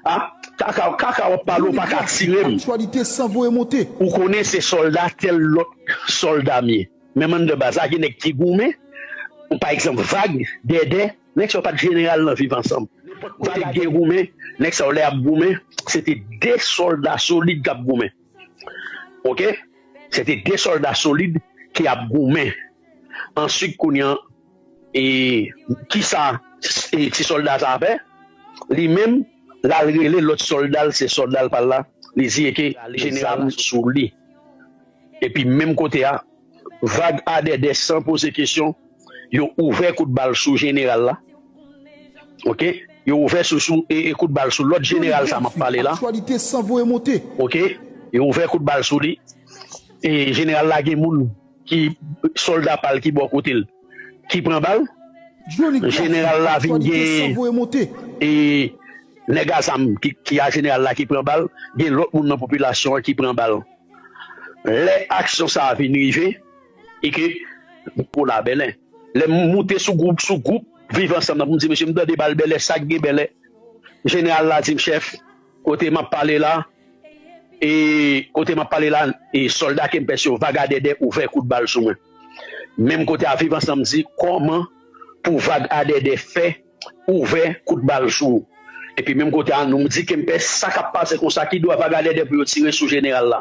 Ah kaka kaka wap pale ou Boni paka gras tiré m aktyalite san voye monte. Ou konnen se solda tel lot solda m ye menm anndan baz la gen neg ki goumen kon pa egzanp vag, dèdè neg sa yo pat jeneral nan viv ansanm nenpot kote vag gen goumen neg sa yo lè yap goumen se te 2 solda solid kap goumen ok se te 2 solda solid ki ap goumen answit kounye an. E kisa ti solda sa fè li menm lal rele lot soldal se soldal pal la li di eke zam sou li epi menm kote a vag adèdè san poze kesyon yo ouvè kout bal sou jeneral la ok yo ouvè sou sou ee kout bal sou lot jeneral sa map pale la ok yo ouvè kout bal sou li ee jeneral la gen moun. Ki solda pal ki bò kotel ki pran bal general la vin gen e nèg a zam ki a general la ki pran bal gen lòt moun nan popilasyon an ki pran bal lè aksyon sa a vin rive e ke pou la bèlè lè m moute sou group sou group viv ansanm nan pou m di mesye m tande bal bèlè sak gen bèlè general la di m chèf. Kote map pale la e Kote map pale la e solda kempès yo vag adèdè ouvè kout bal sou mwen menm kote a viv ansanm di kòman pou vag adèdè fè ouvè kout bal sou ou epi menm kote a nou di kempès sakap pase konsa kidwa vag adèdè pou yo tire sou jeneral la.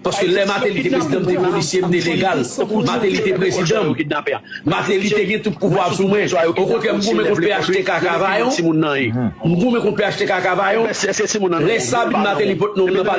Paske lè Mateli te prezidan m te polisye m te legal Mateli te prezidan m Mateli te gen tout pouvwa sou mwen okontrè m goumen kont phtk kavayon m goumen kont phtk kavayon lè sabin Mateli pot non m nan pa